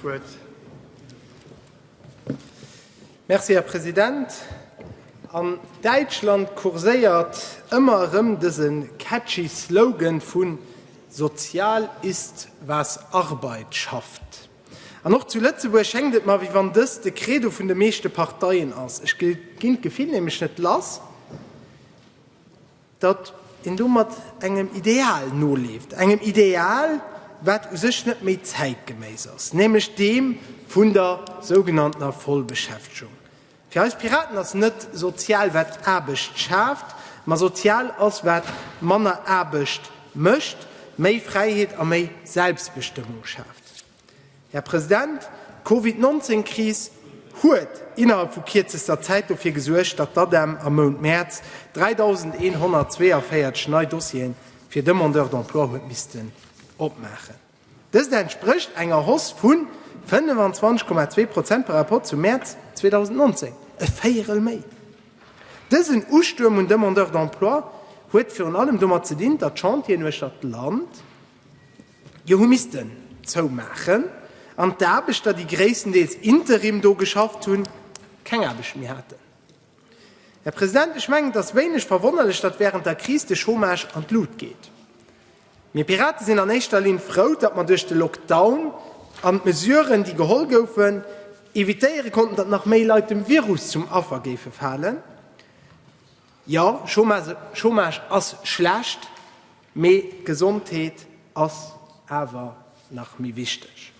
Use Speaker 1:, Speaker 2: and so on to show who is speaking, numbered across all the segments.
Speaker 1: Wuert. Merci, Här President. An Däitschland kurséiert ëmmer erëm dëse catchy Slogan vu Sozial ist, was Arbeit schafft. An och zu Lëtzebuerg schéngt et mer, wéi wann dëst de Credo vun de meeschte Parteien ass. Ech ginn d'Gefill nämlech net lass. datt een domat engem Ideal noleeft, engem Ideal, wat u sech net méi zäitgeméiss ass, nämlech deem vun der sougenanntener Vollbeschäftegung. Fir eis Piraten ass net sozial, wat Aarbecht schaaft, ma sozial ass, wat manner Aarbecht mécht, méi Fräiheet a méi Selbstbestëmmung schaaft. Här President, d'Covid 19 Kris huet innerhalb vu kierzester Zäit dofir gesuergt, datt d'ADEM am Mount Mäerz 3.142 nei Dossiere fir Demandeurs d'emploi huet missten opmaachen. Dëst entsprécht enger Hausse vu 25,2 Prozent par rapport zum Mäerz 2019, e Véierel méi. Dësen Ustuerm un Demandeurs d'emploi huet virun allem domat ze dinn, datt Chantieren uechter d'Land Jo hu missten zoumaachen an d'Aarbechter, déi gréisstendeels Interim do geschafft hunn, keng Aarbecht méi haten. Här President, ech mengen, et ass wéineg verwonnerlech, datt während der Kris de Chômage an d'Lut geet. Mir Piraten sinn an éischter Linn frou, datt mer duerch de Lockdown an d'Mesuren, déi geholl goufen, evitéiere konnten, datt nach méi Leit dem Virus zum Affer géife falen. Jo, Chômage ass schlecht, mee d'Gesondheet ass awer nach méi wichteg.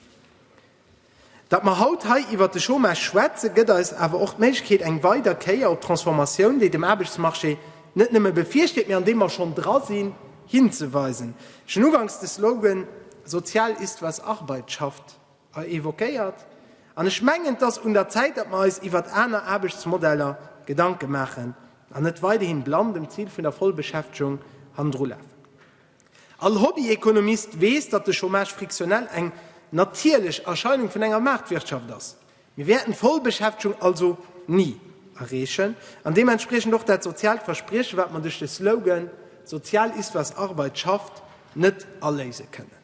Speaker 1: Datt mer haut hei iwwert de Chômage schwätzen, gëtt eis awer och d'Méiglechkeet, eng weider Kéier op d'Transformatioun, déi dem Aarbechtsmarché net nëmme bevirsteet, mee an deem mer schonn dra sinn, hinzeweisen. Ech hunn ugangs de Slogan Sozial ist, was Arbeit schafft. hei évoquéiert, an ech mengen, et ass un der Zäit, datt mer eis iwwert aner Aarbechtsmodeller Gedanke maachen an net weiderhin blann dem Zil vun der Vollbeschäftegung hannendru lafen. All Hobbyéconomiste weess, datt de Chômage frictionnel eng natierlech Erscheinung vun enger Maartwirtschaft ass. Mir wäerten d'Vollbeschäftegung also ni erreechen an deementspriechend och dat soziaalt Versprieche, wat mer duerch de Slogan Sozial ist, was Arbeit schafft net aléise kënnen.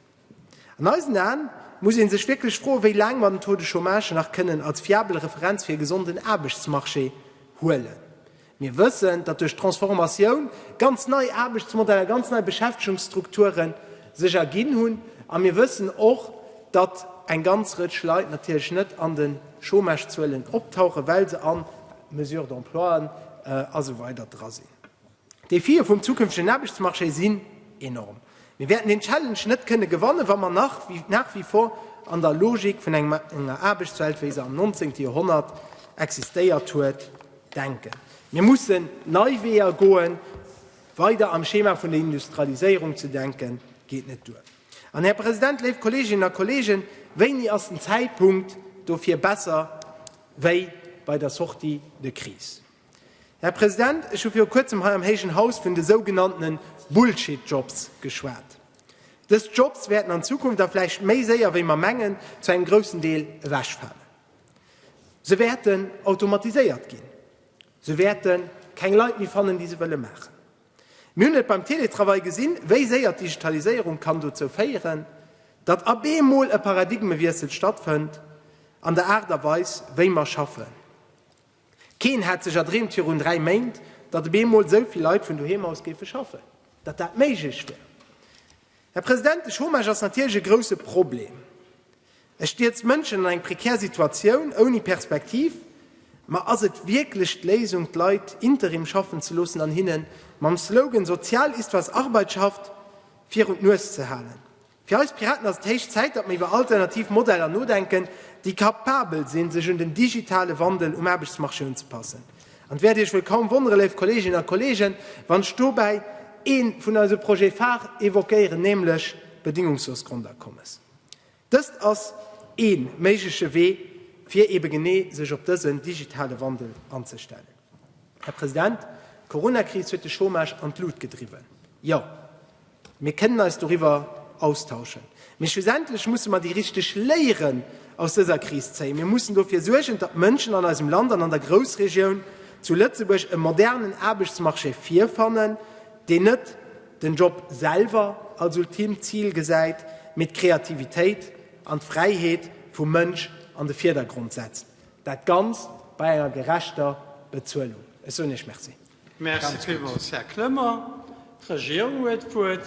Speaker 1: An eisen Aen muss ee sech wierklech froen, wéi laang mer den Taux de Chômage nach kënnen als fiabel Referenz fir e gesonden Aarbechtsmarché huelen. Mir wëssen, datt duerch d'Transformatioun ganz nei Aarbechtsmodeller, ganz nei Beschäftegungsstrukture sech erginn hunn. A mir wëssen och, datt eng ganz Rëtsch Leit natierlech net an de Chômagezuelen optauchen, well se a Mesures d'emploien a sou weider dra sinn. D'Defie vum zukünftegen Aarbechtsmarché sinn enorm. Mir wäerten deen Challenge net kënne gewannen, wa mer nach wie vor an der Logik vun enger Aarbechtswelt, wéi se am nonzéngte Joerhonnert existéiert huet, denken. Mir mussen nei Weeër goen. Weider am Schema vun der Industrialiséierung ze denke geet net duer. An, Här President, léif Kolleeginnen a Kolleegen, wéini ass den Zäitpunkt dofir besser wéi bei der Sortie de crise? Här President, ech hu viru kuerzem hei am héijen Haus vun de sougenanntene Bullshit-Jobs geschwat. Dës Jobs wäerten an Zukunft, a vläicht méi séier wéi mer mengen, zu engem groussen Deel ewechfalen. Se wäerten automatiséiert ginn. Se wäerte keng Leit méi fannen, déi se wëlle maachen. Mir hunn et beim Teletravail gesinn, wéi séier d'Digitaliséierung kann dozou féieren, datt ab eemol e Paradigmewiessel stattfënnt an der Aart a Weis, wéi mer schaffen. Keen hat sech erdreemt virun dräi Méint, datt op eemol esou vill Leit vun doheem aus géife schaffen, datt dat méiglech wär. Här President, de Chômage ass natierlech e grouse Problem. E stierzt Mënschen an eng prekär Situatioun ouni Perspektiv. Ma ass et wierklech d'Léisung, d'Leit Interim schaffen ze loossen an hinne mam Slogan Sozial ist, was Arbeit schafft virun d'Nues ze halen? Fir eis Piraten ass et héich Zäit, datt mer iwwer alternativ Modeller nodenken, déi kapabel sinn, sech un den digitale Wandel um Aarbechtsmarché unzepassen. An et wäert Iech wuel kaum wonneren, léif Kolleeginnen a Kolleegen, wann ech dobäi ee vun eise Projets phares évoquéieren, nämlech d'bedingungslos Grondakommes. Dëst ass ee méigleche Wee, fir eebe genee sech op dësen digitale Wandel anzestellen. Här President, d'Coronakris huet de Chômage an d'Lut gedriwwen. Jo, mir kënnen eis doriwwer austauschen. Mee schlussendlech musse mer déi richteg Léieren aus dëser Kris zéien. Mir mussen dofir suergen, datt d'Mënschen an eisem Land an an der Groussregioun zu Lëtzebuerg e modernen Aarbechtsmarché virfannen, deen net den Job selwer als ultimt Zil gesäit, mee d'Kreativitéit an d'Fräiheet vum Mënsch an de Virdergrond setzt. Dat Ganzt bei enger gerechter Bezuelung. Ech soen Iech Merci. Merci villmools, Här Clement. D'Regierung huet d'Wuert.